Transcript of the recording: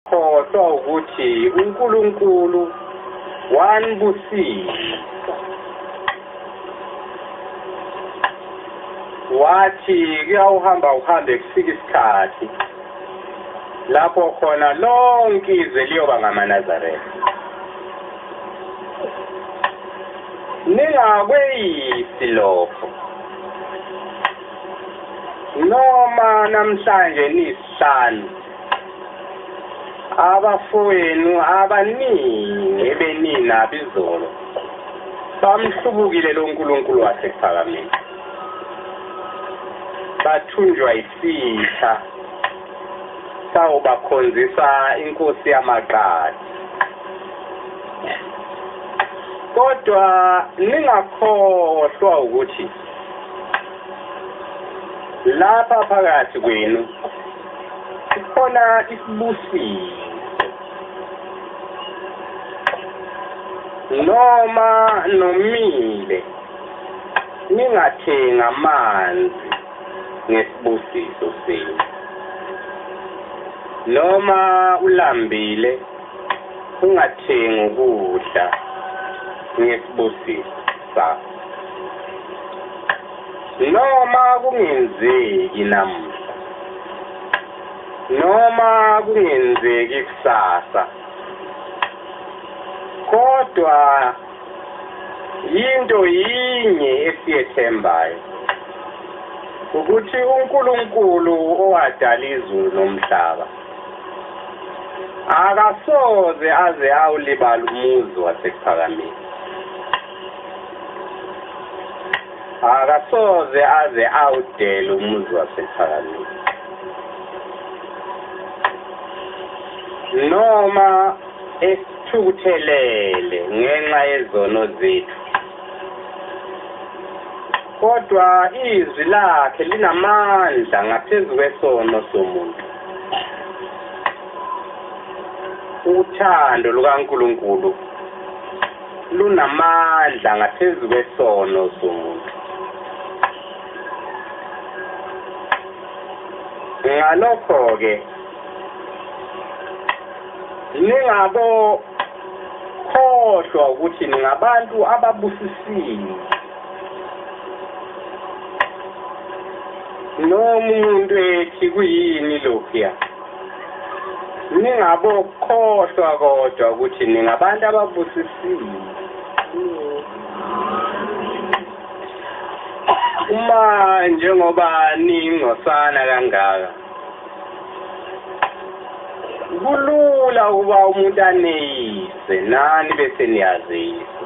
Khohlwa ukuthi uNkulunkulu wanibusisa wathi kuyawuhamba uhambe kufika isikhathi lapho khona lonke izwe liyoba ngamaNazaretha ningakweyisi lokho noma namhlanje nisihlanu abafowenu abaningi ebeninabo izolo bamhlubukile lo nkulunkulu wasekuphakamiwe bathunjwa isitha sawubakhonzisa inkosi yamaqadi kodwa ningakhohlwa ukuthi lapha phakathi kwenu khona isibusiso noma nomile ningathenga amanzi ngesibusiso senu noma ulambile Ungathengi ukudla ngesibusiso sakho. Noma kungenzeki namuhla. Noma kungenzeki kusasa. Kodwa yinto yinye esiyethembayo ukuthi uNkulunkulu owadala izulu nomhlaba akasoze aze awulibala umuzi wasekuphakameni akasoze aze awudele umuzi wasekuphakameni noma esithukuthelele ngenxa yezono zethu Kodwa izwi lakhe linamandla ngaphezu kwesono somuntu. Uthando lukaNkulunkulu lunamandla ngaphezu kwesono somuntu. Ngalokho-ke ningabo khohlwa ukuthi ningabantu ababusisiwe noma umuntu ethi kuyini lokhuya ningabokhohlwa kodwa ukuthi ningabantu ababusisiwe uma njengoba ningcosana kangaka kulula ukuba umuntu aneyise nani bese niyazisa